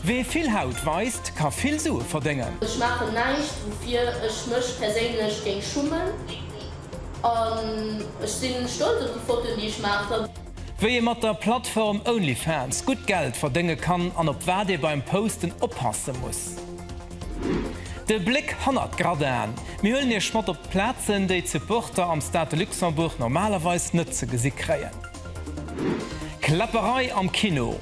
Wee vill Haut weist, ka vill Sue verdéngen. Ech maachen näischt woufir ech mech perséinlech géing schummen an ech si stolz op déi Fotoen déi ech maachen. Wéi ee mat der Plattform OnlyFans gutt Geld verdénge kann an op wat ee beim Posten oppasse muss. De Bléck hannert d'Gradin, mir huelen iech mat op d'Plazen déi d'Supporter am Stade de Luxembourg normalerweis net ze gesi kréien. Kläpperei am Kino!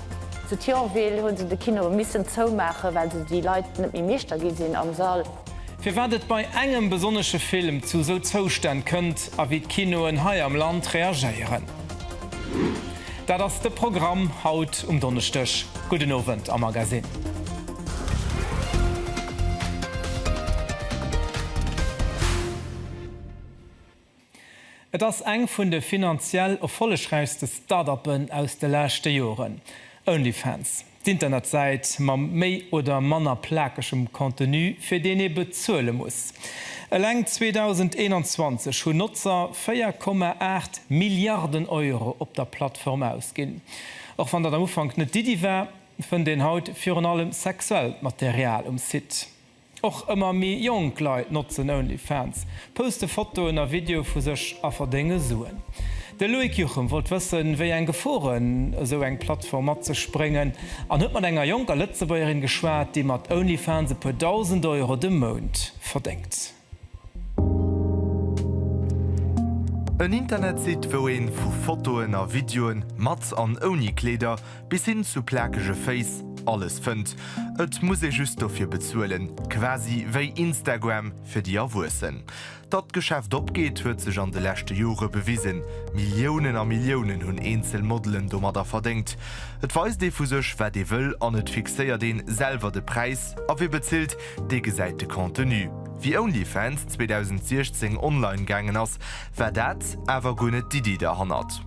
Zu Thionville hu se de Kino missen zoumaachen, well se déi Leit net méi meeschter gi sinn am Sall. Firwat et bei engem besonnesche Film zu esou Zoustänn kënnt a wéi d'Kinoen hei am Land reagéieren, dat ass de Programm haut um Donneschdeg. Gudden Owend am Magasinn. Et ass eng vun de finanziell erfollegräichste Start-uppen aus de leschte Joren. Onlyfans, d'Internetsäit mam méi oder manner plakegem Contenu, fir deen ee bezuele muss. Eleng 2021 hunn Notzer 4,8 Milliarden Euro op der Plattform ausginn. Och wann dat am Ufank net d'Iddi war, fënnt een haut virun allem sexuellt Material um Site. Och ëmmer méi jonk Leit notzen OnlyFans, poste Fotoen a Videoe vu sech a verdénge Suen. De Loïc Juchem wollt wëssen, wéi eng Geforen esou eng Plattform mat sech bréngen an huet mat enger jonker Lëtzebuergerin geschwat, déi mat OnlyFans e puer Dausend Euro de Mount verdéngt. En Internetsite, wou ee vu Fotoen a Videoe mat an ouni Kleeder, Bis hin zu plakege Féiss, alles fënnt, et muss ee just dofir bezuelen, quasi wéi Instagram fir déi Erwuessen. Datt d'Geschäft opgeet, huet sech an de leschte Jore bewisen, Milliounen a Milliounen hunn eenzel Modelen domadder verdéngt. Et weist ee vu sech, wat ee wëll an et fixéiert een selwer de Präis, a wie bezilt, dee gesäit de Contenu. Wéi Onlyfans 2016 online gaangen ass, war dat awer guer net d'Iddi derhannert.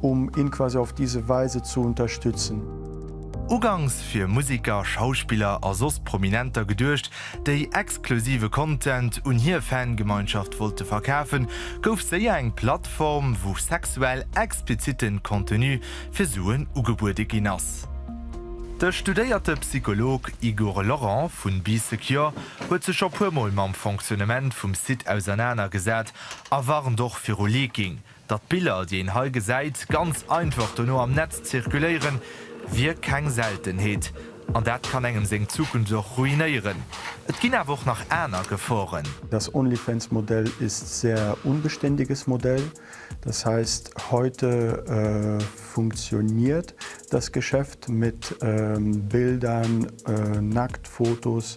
um ihn quasi auf diese Weise zu unterstützen. Ugangs fir Musiker, Schauspiller a soss Prominenter geduecht, déi exklusive Content un hier Fangemeinschaft wollte verkafen, gouf séier eng Plattform, wou sexuell explizitten Contenu fir Suen ugebuede ginn ass. De studéierte Psycholog Igor Laurent vun Bee Secure huet sech scho puer Mol mam Fonctionnement vum Site ausernaner gesat a warnt och viru Leaking, Datt d'Biller, déi een hei gesäit, ganz einfach dono am Netz zirkuléieren, wier keng Seltenheet. An dat kann engem seng Zukunft och ruinéieren. Et ginn awer och nach aner Geforen. Das OnlyFans-Modell ist sehr unbeständiges Modell. Das heißt, heute funktioniert das Geschäft mit Bildern, Nacktfotos,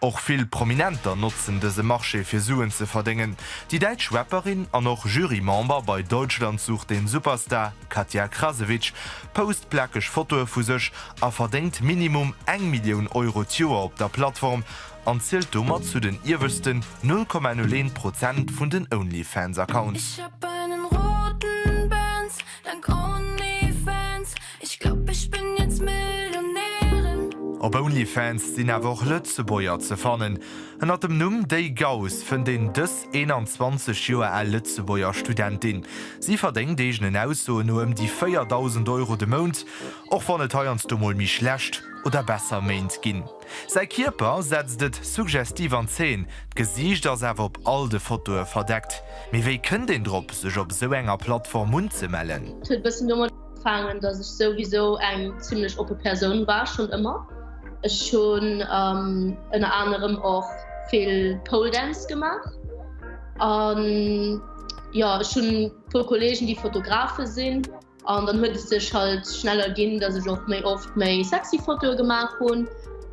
Och vill Prominenter notzen dëse Marché fir Suen ze verdéngen. Déi däitsch Rapperin an och Jury-Member bei Deutschland sucht den Superstar, Katja Krasewitsch, post plakeg Fotoe vu sech a verdéngt minimum eng Millioun Euro d'Joer op der Plattform an zielt domat zu den ieweschten 0,01 Prozent vun den Onlyfans-Accounts. Ech glaub ech bin jetzt Millionärin. Op Onlyfans sinn awer och Lëtzebuerger ze fannen. Ënnert dem Numm Déi Gauss fënnt een dës 21 Joer al Lëtzebuerger Studentin. Si verdéngt eegenen Aussoen no ëm déi 4.000 Euro de Mount, och wann et heiansdo mol méi schlecht oder besser Méint ginn. Säi Kierper setzt et suggestiv an Zeen, d'Gesiicht ass awer op all de Fotoe verdeckt. Mee wéi kënnt een drop, sech op esou enger Plattform unzemellen? Fangen dass ech souwisou eng zimlech oppe Persoun war schon ëmmer. Ech schon ënner ähm, anerem och vill Poledance gemacht. An ähm, ja schon pu Kollegen die Fotografe sinn. An dann huet es sech halt schneller ginn, dass ech och méi oft méi sexy Fotoe gemacht hunn.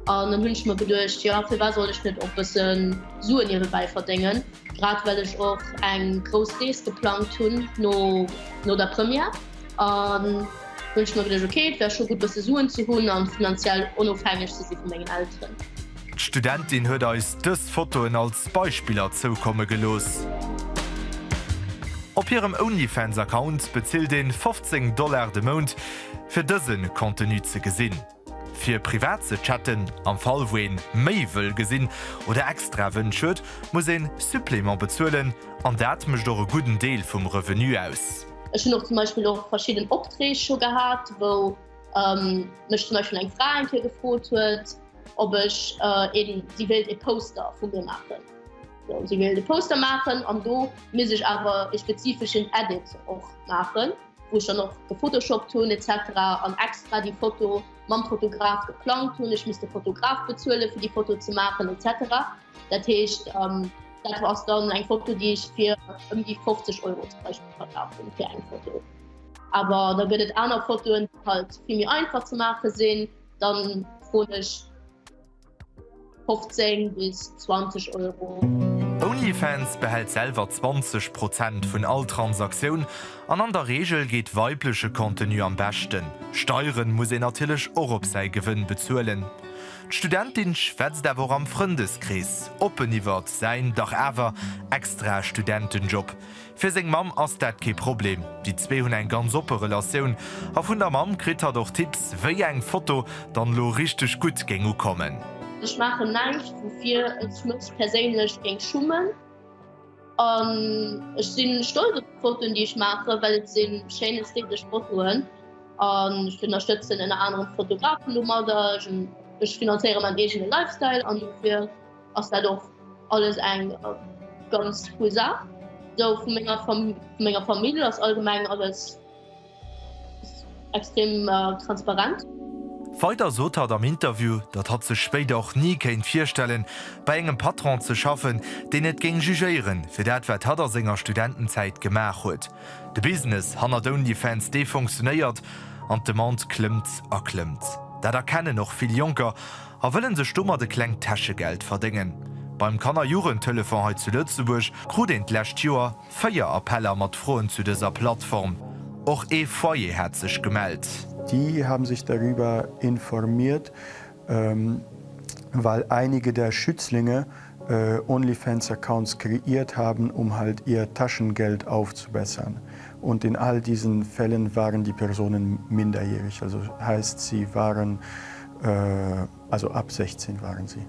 An dann hunn ich mir gedurcht ja fir war soll ech net op bëssen Suen hiewe bäi verdengen. Grad well ech och eng grouss Rees geplangt hunn no der Première, hunn ech mer geduecht, ok, et wär scho gutt bësse Suen ze hunn a finanziell onofhängeg ze si vu mengen Elteren. D'Studentin huet eis dës Fotoen als Beispiller zoukomme gelooss. Op hirem Onlyfans-Account bezilt een 15 Dollar de Mount fir dësen Contenu ze gesinn. Fir privat ze chatten, am Fall wou een méi wëll gesinn oder extra Wënsch huet, muss een Supplément bezuelen an dat mécht och e gudden Deel vum Revenu aus. Ech hunn och zum Beispill och verschidden Optreeg scho gehat, wou mech zum Beispill eng Fra eng Kéier gefrot huet, ob ech een, si wéilt ee Poster vu mir maachen, si wéilt e Poster maachen an do misst ech awer ee spezifeschen Edit och maachen. wou ech dann och gefotoshoppt hunn etc an extra déi Foto mam Fotograf geplangt hunn. Ech misst de Fotograf bezuele fir déi Foto ze maachen etc. Dat heescht dat ass dann eng Foto déi ech fir ëm déi 50 Euro zum Beispiel verkaf hunn fir eng Foto. Awer da gëtt et aner Fotoen déi halt vill méi einfach ze maache sinn, dann froen ech. 15 bis 20 Euro. Onlyfans behält selwer 20 Prozent vun all Transaktioun an an der Reegel geet weibleche Contenu am beschten. Steiere muss een natierlech och op säi Gewënn bezuelen. D'Studentin schwätzt awer och am Frëndeskrees oppen iwwert säin dach awer extra Studentenjob. Fir seng Mamm ass dat kee Problem. Déi zwee hunn eng ganz oppe Relatioun a vun der Mamm kritt hatt och Tipps, wéi eng Foto dann elo richteg gutt géing ukommen. Ech maachen näischt, woufir ech mech perséinlech géing schummen. An ech si stolz op d'Fotoen, déi ech maachen, well et si schéin ästhetesch Fotoen. An ech ënnerstëtzen ënner anerem Fotografen domadder. Ech finanzéiere mäin eegene Lifestyle an dofir. ass dat och alles eng ganz cool Saach. Sou vu menger Fam vu menger Famill ass allgemeng alles extrem transparent. Weider sot hatt am Interview, datt hatt sech spéider och ni kéint virstellen, bei engem Patron ze schaffen, deen et géing jugéieren, fir dat wat hatt a senger Studentenzäit gemaach huet. De Business hannert Onlyfans, dee funktionéiert an d'Demande klëmmt a klëmmt. Dat erkennen och vill Jonker. A wëllen sech domat e klengt Täschegeld verdéngen. Beim Kannerjugendtelefon hei zu Lëtzebuerg krut een d'lescht Joer 4 Appeller mat Froen zu dëser Plattform. Och ee Foyer hat sech gemellt. Die haben sich darüber informiert, weil einige der Schützlinge Onlyfans-Accounts kreiert haben, um halt ihr Taschengeld aufzubessern. Und in all diesen Fällen waren die Personen minderjährig, also heißt, sie waren Also ab 16 waren si.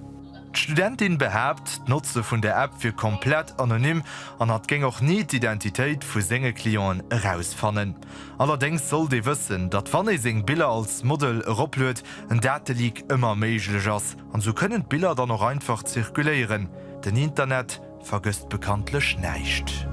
D'Studentin behaapt, d'Notze vun der App wier komplett anonym an hatt géing och ni d'Identitéit vu senge Clienten erausfannen. Allerdéngs sollt ee wëssen, datt wann ee seng Biller als Model eropluet, en Dateleak ëmmer méiglech ass. An sou kënnen d'Biller dann och einfach zirkuléieren. Den Internet vergësst bekanntlech näischt.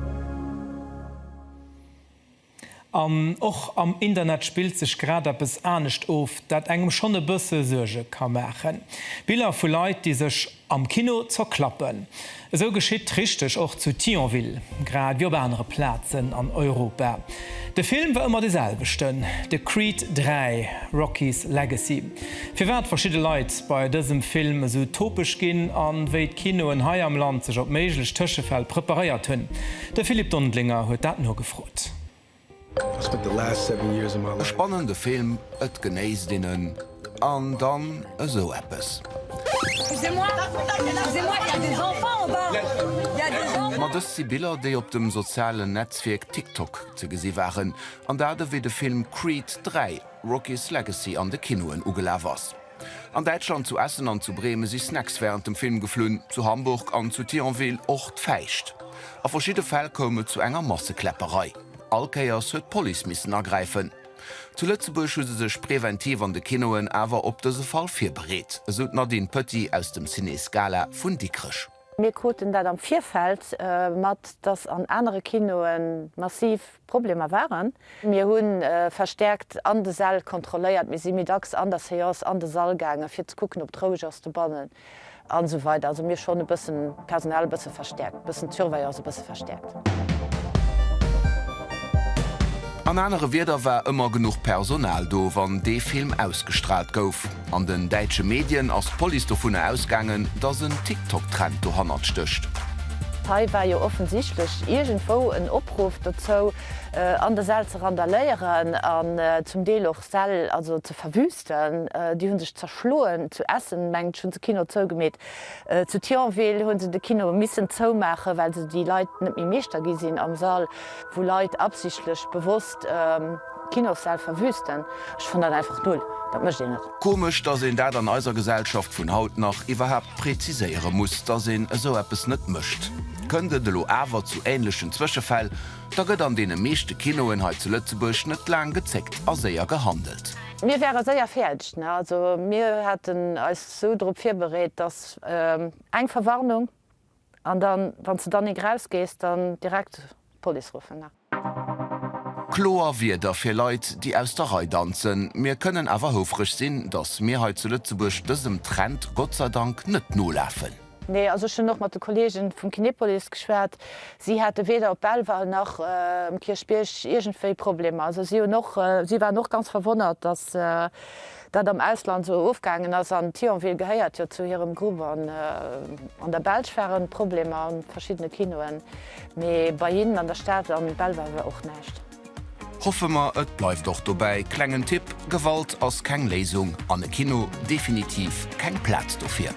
An och am Internet spillt sech grad eppes anescht of, dat engem schonn e bësse Suerge ka maachen, Biller vu Leit, déi sech am Kino zerklappen. Esou geschitt richteg och zu Thionville, grad wéi op anere Plazen an Europa. De Film war ëmmer de selwechten, de Creed 3, Rocky's Legacy. Firwat verschidde Leit bei dësem Film esou topeg ginn a wéi d'Kinoen hei am Land sech op méiglech Tëschefäll preparéiert hunn, de Philippe Dondlinger huet dat nogefrot. E spannende Film, et genéisst een en, an dann esou eppes. Ma dëst si Biller, déi op dem sozialen Netzwierk TikTok ze gesi waren, an dat ewéi de Film Creed 3, Rocky's Legacy an de Kinoen ugelaf ass. An Däitschland, zu Essen an zu Bremen, si Snacks wärend dem Film geflunn, zu Hamburg an zu Thionville och d'Fäischt. A verschidde Fäll koum et zu enger Massekläpperei. All Kéiers huet d'Police missen agräifen. Zu Lëtzebuerg hu se sech preventiv an de Kinoen awer op dëse Fall virbereet, esou d'Nadine Petit aus dem Ciné Scala vun Dikrech. Mir kruten dat am Virfeld mat, dass an anere Kinoe massiv Problemer waren. Mir hu verstäerkt an de Säll kontrolléiert. Mir si méi dacks an der Seance an de Sall gaangen, fir ze kucken, ob et roueg ass dobannen an esou weider. Also mir hu schonn e bëssen d'Personal e bësse verstäerkt, e bëssen d'Surveillance e bësse verstäerkt. An anere Wierder war ëmmer genuch Personal do, wann dee Film ausgestraalt gouf. An den däitsche Medien ass d'Police dovunner ausgaangen, dass en TikTok-Trend dohannert stécht. Hei war jo offensichtlech iergendwou en Opruff dozou, an der Säll ze randaléieren an zum Deel och Säll also ze verwüsten. Déi hu sech zerschloen. Zu Essen, mengt ech, hu se Kino zougemeet. Zu Thionville hunn se de Kino missen zoumaachen, well se déi Leit net méi Meeschter gi sinn am Sall, wou Leit absichtlech bewosst Kinossäll verwüsten. Ech fannen dat einfach null, dat mécht een net. Komesch, dass een dat an eiser Gesellschaft vun haut nach iwwerhaapt präziséiere muss, dass een esou eppes net mécht. Kënnt et elo awer zu ähnlechen Zwëschefäll, da gëtt an deene meeschte Kinoen hei zu Lëtzebuerg net laang gezéckt a séier gehandelt. Mir wäre séier fäerdeg, ne? Also mir haten eis sou drop virbereet, dass eng Verwarnung an dann, wann s de dann ink rausgees, dann direkt d'Police ruffen. Kloer Wierder fir Leit, déi aus der Rei danzen. Mir kënnen awer houfreg sinn, dass mir hei zu Lëtzebuerg dësem Trend gottseidank net nolafen. Nee, also ech hunn och mat de Kolleege vum Kinepolis geschwat. Si hate weder op Belval nach um Kierchbierg iergendwéi Problemer. Also si hunn och, si waren och ganz verwonnert, dass dat am Ausland esou ofgaangen ass, an Thionville gehéiert jo zu hirem Grupp, an an der Belsch waren Problemer an verschiddene Kinoen, mee bei hinnen an der Stad am Belval war och näischt. Hoffe mer et bleift och dobäi. Klengen Tipp, Gewalt ass keng Léisung, an e Kino definitiv keng Plaz dofir.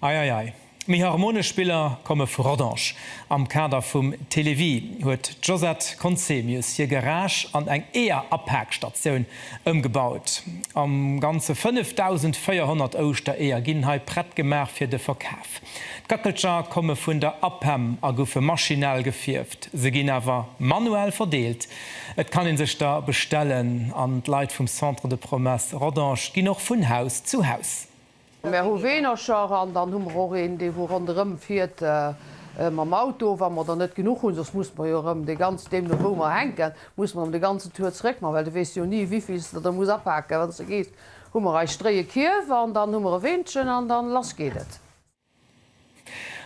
Ei ei ei, méi harmonesch Spiller komme vu Rodange. Am Kader vum Télévie huet d'Josette Conzemius hir Garage an eng Eeër-Apaakstatioun ëmgebaut. Am Ganze 5.400 Ouschtereeër ginn hei prett gemaach fir de Verkaf. D'Gackelcher komme vun der APEM a goufe maschinell gefierft. Se ginn awer manuell verdeelt. Et kann ee sech der bestellen an d'Leit vum Centre de Promesse Rodange ginn och vun Haus zu Haus. Mär hu Weenercher an dann hu mer och een, dee wou ronderëm fiert mam Auto, wa mer der net genuch hunn. Soss muss mer jo erëm dee ganz, deemno wou mer hänken, muss mer erëm de ganzen Tour zeréckman, well du weess jo ni, wivill s de der muss apake wann s de gees. Hu mer eis Stréi, e Kierf an dann hu mer e Weenchen an dann lass geet et.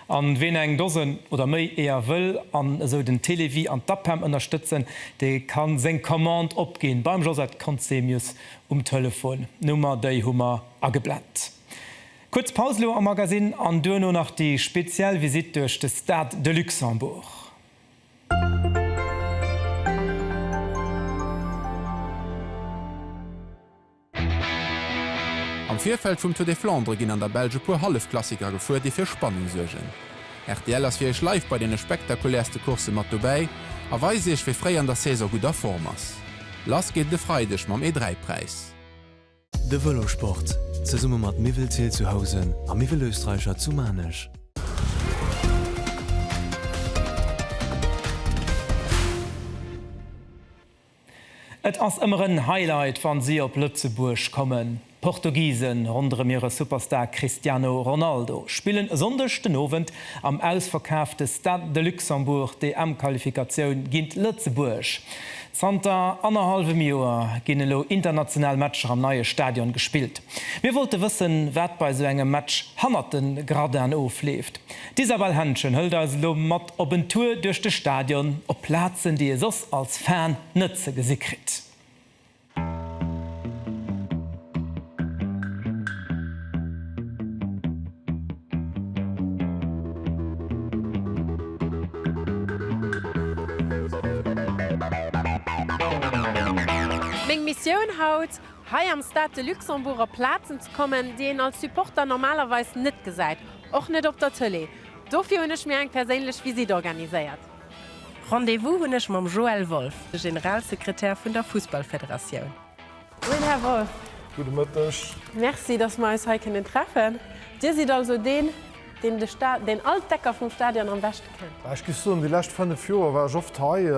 An ween eng Dosen oder méi Eeër wëll an esou den Télévie an d'APEM ënnerstëtzen, dee kann seng Commande opginn beim Josette Conzemius um Telefon. D'Nummer déi hu mer ageblent. Kuerz Paus lo am Magasinn an duerno nach déi speziell Visite duerch de Stade de Luxembourg. Am Virfeld vum Tour des Flandres ginn an der Belsch e puer Hallefklassiker gefuer, déi fir Spannung suergen. Rtl ass fir iech live bei deene spektakulärste Coursse mat dobäi a weist iech, wie fréi an der Saison gutt a Form ass. Lass geet et e Freideg mam E3-Präis. De Vëlosport, zesumme mat Miwwelzeel zu Housen a Miwwelösterreicher zu Maarnech. Et ass ëmmer en Highlight wann si op Lëtzebuerg kommen. D'Portugisen ronderëm hire Superstar Cristiano Ronaldo spillen e Sonndeg den Owend am ausverkaafte Stade de Luxembourg d'EM-Qualifikatioun géint Lëtzebuerg. Zanter annerhallwem Joer ginn elo international Matcher am neie Stadion gespillt. Mir wollte wëssen, wat bei esou engem Match hannert de Gradinen ofleeft. D'Isabelle Henschen hëlt eis elo mat. Op en Tour duerch de Stadion op Plazen déi ee soss als Fan net ze gesi kritt. Meng Missioun haut, Hei am Stade de Luxembourg op Plazen ze kommen déi een als Supporter normalerweis net gesäit, och net op der Tëlee. Dofir hunn ech mir eng perséinlech Visitt organiséiert. Rendez-vous hunn ech mam Joël Wolff, de Generalsekretär vun der Fussballfederatioun. Moien, Här Wolff. Gudde Mëtteg. Merci, dass mer eis hei kënnen treffen. Dir sidd also deen, deen de Sta-, deen all d'Ecker vum Stadion am beschte kennt. Ech géif soen, déi lescht fënnef Joer war ech oft hei,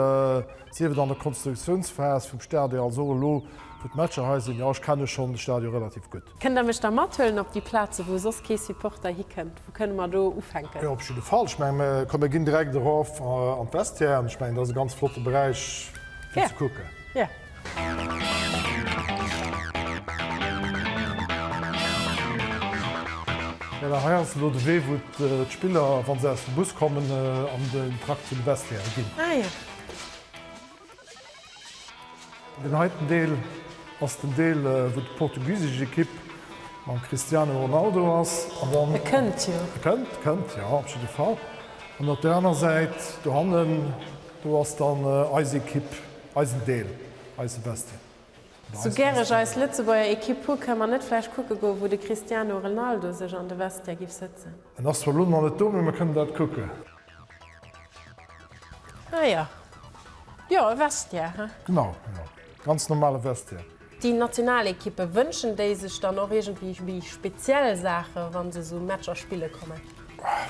sief et an der Konstruktiounsphas vum Stadion als och elo, wou d'Matcher hei sinn. Jo, ech kenne schonn de Stadion relativ gutt. Kënnt Der mech da mathuelen op déi Plazen, wou soss kee Supporter hikënnt? Wou kënne mer do ufänken? Jo, op jidde Fall. Ech menge mer kënne ginn direkt erof an d'Vestiairen. Ech mengen, dat ass e ganz flotte Beräich fir ze kucken. Yeah. Voilà, hei ass elo de Wee, wou d'Spiller, wa se aus dem Bus kommen, an den Trakt vun de Vestiairen ginn. Ah jo. Den heiten Deel ass den Deel wou d'portugisesch Ekipp mam Cristiano Ronaldo ass an dann, e kënnt jo, e kënnt, e kënnt jo op jidde Fall an op där aner Säit dohannen do ass dann eis Ekipp, eisen Deel, eis Sebastien. Sou gär ech eis Lëtzebuerger Ekipp hu kënn mer net vläicht kucke goe wou de Cristiano Renaldo sech an de Vestiaire giff sëtzen? En ass zwar elo nach net do mee mer kënnen dat kucken. Ah ja. Jo, e Vestiaire, he? Genau, genau. Ganz normale Vestiaire. Déi national Ekippe, wënschen déi sech dann och iergendwéi speziell Saachen, wa se esou Matcher spille kommen?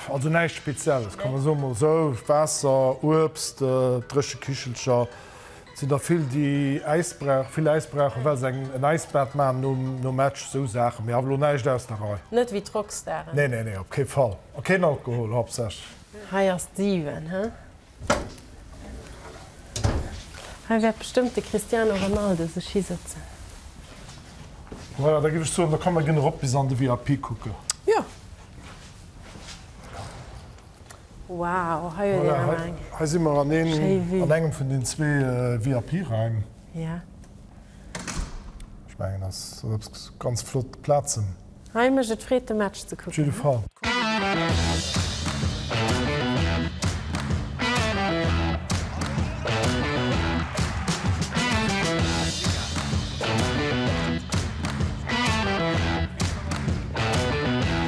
Also näischt Spezielles, kann ee soen. Mol esou, Waasser, Uebst, dréche Kichelcher, Et sinn der vill, déi Äisbrauch, vill Äisbrauchen, well se eng, en Äisbad maachen nom, nom Match, esou Saachen. Mee awer elo näischt aus der Rei. Net wéi d'Rockstaren. Nee, nee, nee, op kee Fall. A keen Alkohol, haaptsächlech. Hei ass d'Siwen, hä? Hei wäert bestëmmt de Cristiano Ronaldo sech hisëtzen. Voilà, da géif ech soen, da komm, mer ginn erop bis an de VIP kucken. Jo. Wow, hei huet een awer eng. Hei si mer an engem vun den zwee VIP-Raim. Jo. Ech mengen, ass eppes ganz flott Plazen. Hei mécht et Freed, de Match ze kucken. Op jidde Fall.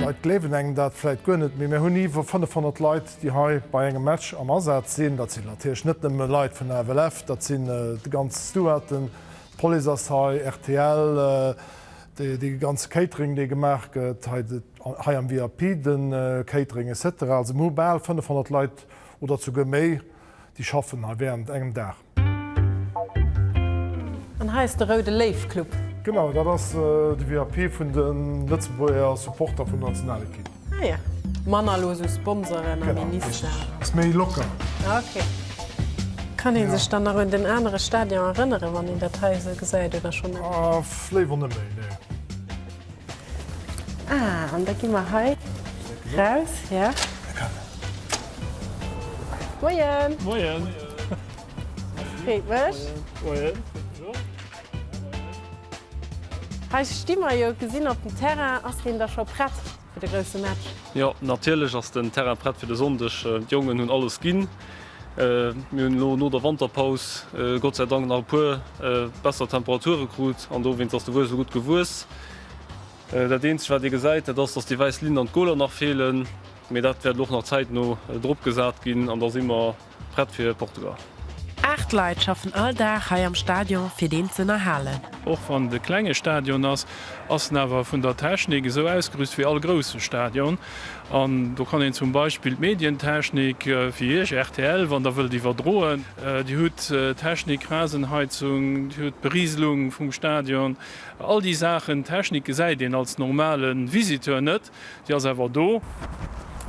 Leit gleewen engem dat vläit guer net, mee mir hunn iwwer 500 Leit, déi hei bei engem Match am Asaz sinn. Dat sinn natierlech net nëmme Leit vun der FLF, dat sinn déi ganz Stewarden, d'Police ass hei, rtl, dee ganze Catering, dee gemaach gëtt hei am VIP, de Catering et cetera. Also mir hu bal 500 Leit oder souguer méi, déi schaffen hei wärend engem Dag. An hei ass de Roude Léiw Club. Genau, dat ass de VIP vun de Lëtzebuerger Supporter vun der Nationalekipp. Ah jo, manner elo esou Sponsoren a Minister. Genau, richtig. Ass méi locker. Okay. Kann ee sech dann nach un den anere Stadion erënneren, wann een dat hei esou gesäit, oder schonn net? Léiwer net méi, nee. Ah, an da gi mer hei raus, ja. Moien! Moien! Freet mech. Moien. Hei sti mer jo, gesinn op dem Terrain. Ass deen da scho prett fir de grousse Match? Jo, natierlech ass den Terrain prett fir de Sonndeg. D'Jongen hunn alles ginn. Mir hunn elo no der Wanterpaus Gott sei Dank nach e puer besser Temperature krut an dowéinst ass de Wues elo gutt gewuess. Dat eenzegt wat ee gesäit, dat ass, dass déi wäiss Linn an d'Goler nach feelen, mee dat wäert elo och nach zäitno drop gesat ginn an da si mer prett fir Portugal. Aacht Leit schaffen all Dag hei am Stadion fir deen z'ënnerhalen. Och wann et e klenge Stadion ass, ass en awer vun der Technik esou ausgerüst wéi all grousse Stadion. An do kann een zum Beispill d'Medientechnik, fir Iech rtl, wann Der wëllt iwwerdroen. Dir hutt d'Technik, Rasenheizung, Dir hutt d'Berieselung vum Stadion, all déi Saachen. D'Technik gesäit een als normale Visiteur net, déi ass awer do.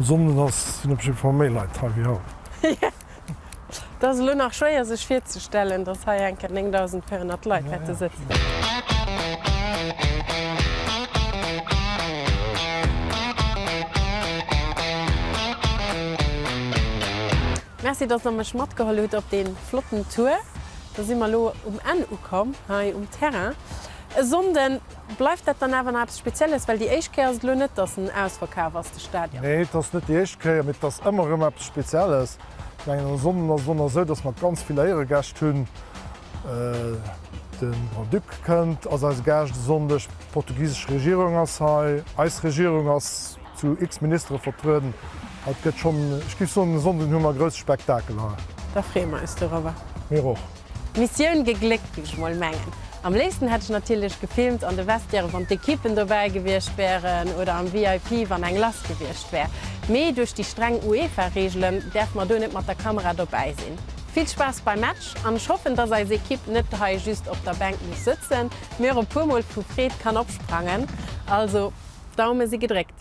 Sonndes ass, sinn op jiddwer Fall méi Leit hei wéi haut. Et ass elo nach schwéier sech virzestellen, datt hei enker 9.400 Leit wäerte sëtzen. Merci, datt der mech matgeholl hutt op dee flotten Tour. Da si mer elo um Enn ukomm hei um Terrain. E Sonnden. Bleift dat dann awer nach eppes Spezielles? Well déi éischt Kéier ass et elo net, datt en ausverkaf ass, de Stadion. Nee, et ass net déi éischt Kéier, mee et ass ëmmer erëm eppes Spezielles. Ech mengen, en Sonnden ass et och nach esou, datt mer ganz vill Éieregäscht hunn. De Grand-Duc kënnt, ass eise Gaascht e Sonndeg, d'portugisesch Regierung ass hei, eis Regierung ass zu x Ministere vertrueden. Also et gëtt schonn, ech géif soen, e Sonnden hu mer e grousse Spektakel hei. Da freeë mer eis dorëwwer. Mir och. Mission gegléckt géif ech mol mengen. Am léifsten hätt ech natierlech gefilmt an de Vestiairen wann d'Equippen dobäi gewiescht wären oder am VIP wann eng lass gewiescht wär, mee duerch déi streng UEFA Reegelen däerfe mer do net mat der Kamera dobäi sinn. Vill Spaass beim Match an ech hoffen dass eis Equipe net hei just op der Bänk muss sëtzen, mee och e puer mol vu Freed kann opsprangen. Also Daume si gedréckt.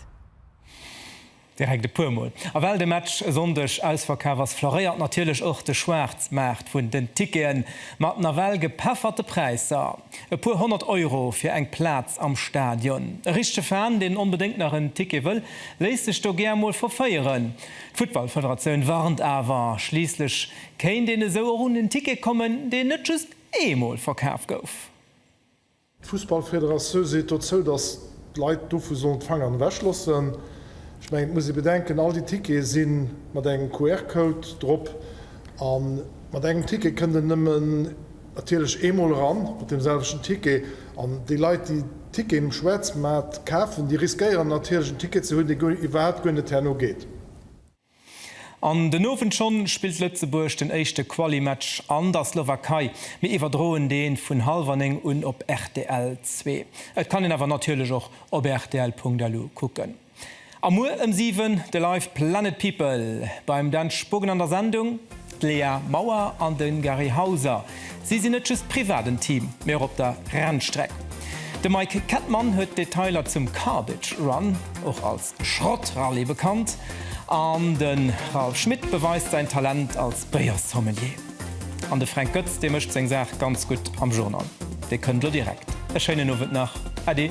Direkt e puer mol. A well de Match e Sonndeg ausverkaf ass, floréiert natierlech och de Schwaarzmaart vun den Ticketen, mat nawell gepefferte Präisser. E puer honnert Euro fir eng Plaz am Stadion. E richtege Fan, deen onbedéngt nach en Ticket wëll, léisst sech do gär mol verféieren. D'Futtballfederatioun warnt awer, schliisslech kéint een esou och un en Ticket kommen, deen net just eemol verkaf gouf. D'Fussballfederatioun seet dozou, datt d'Leit dovu sollen d'Fanger ewech loossen. Ech mengen, et muss ee bedenken, all déi Tickete si mat engem QR-Code drop a mat engem Ticket kënnt een nëmmen natierlech eemol eran, mat deem selwechten Ticket. An déi Leit, déi Ticketen um Schwaarzmaart kafen, déi riskéieren natierlech en Ticket ze hunn, dee iwwerhaapt guer net herno geet. An den Owend schonn spillt Lëtzebuerg den éischte Quali-Match an der Slowakei. Mir iwwerdroen deen vun hallwer 9 un op rtl zwee. Et kann een awer natierlech och op rtl.lu kucken. A muer ëm 7 de Live Planet People beim Dan Spogen an der Sendung. D'Lea Mauer an de Gary Hauser, si sinn net just privat en Team, mee och op der Rennstreck. De Mike Kettmann huet d'Detailer zum Cardiff Run, och als Schrott-Rallye bekannt, an de Ralph Schmitt beweist säin Talent als Béiersommelier. An de Fränk Goetz, dee mécht seng Saach ganz gutt am Journal. Dee kënnt elo direkt. E schéinen Owend nach. Äddi.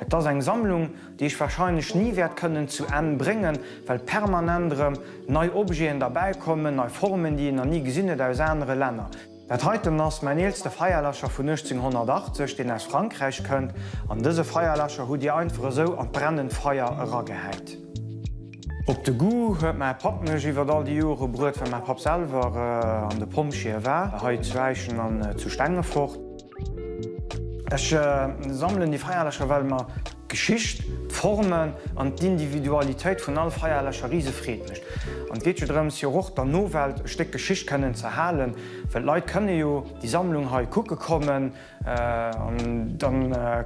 Et ass eng Sammlung, déi ech warscheinlech ni wäert kënnen zu Enn bréngen, well permanent erëm nei Objeten derbäi kommen, nei Formen, déi een nach ni gesinn huet aus anere Länner. Dat heiten ass mäin eelste Feierläscher vun 1880, deen aus Frankräich kënnt. An dëse Feierläscher hutt Dir einfach esou an d'brennend Feier eragehäit. Op de Goût huet mäi Papp mech iwwert all déi Jore bruet, well mäi Papp selwer an de Pompjeeë war, hei zu Äischen an zu Stengefort. Ech sammelen déi Feierlächer, well mer d'Geschicht, d'Formen an d'Individualitéit vun all Feierlächer rise Freed mécht. An et geet jo drëms, jo och der Nowelt e Stéck Geschicht kënnen ze erhalen, well d'Leit kënne jo déi Sammlung hei kucke kommen an da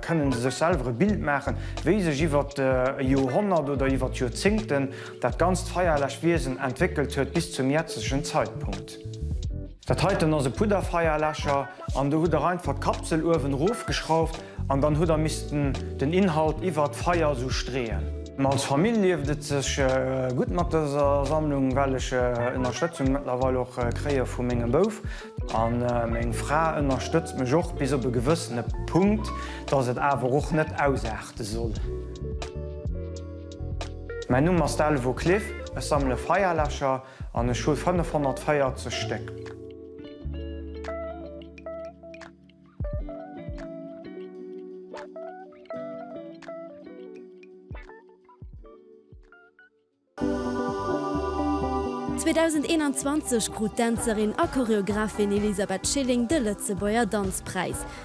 kënne se sech selwer e Bild maachen, wéi sech iwwert e Joerhonnert oder iwwert Joerzéngten dat ganzt Feierlech-Wiesen entwéckelt huet bis zum jetzegen Zeitpunkt. Dat heiten ass e Pudderfeierläscher an do hutt der einfach d'Kapsel uewen erof geschrauft an dann hutt der missten den Inhalt iwwert d'Feier esou streeën. Als Famill lieft et sech gutt mat dëser Sammlung well ech Ënnerstëtzung mëttlerweil och kréie vu mengem Bouf an meng Fra ënnerstëtzt mech och bis op e gewëssene Punkt, dass et awer och net ausaarte soll. Mäin Numm ass Delvaux Cliff, ech sammele Feierläscher An ech hu 540 Stéck. Zweedausend-eenanzwanzeg krut d'Dänzerin a Choreographin Elisabeth Schilling de Lëtzebuerger Danzpräis.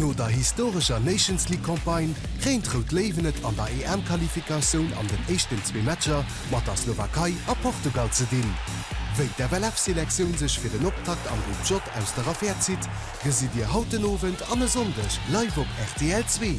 No der historescher Nations League Campagne kréint Rout Léiwen et an der EM-Qualifikatioun an den éischten zwee Matcher mat der Slowakei a Portugal ze dinn. Wéi d'FLF-Selektioun sech fir den Optakt am Groupe J aus der Affär zitt, gesitt Dir haut den Owend an e Sonndeg live op rtl zwee.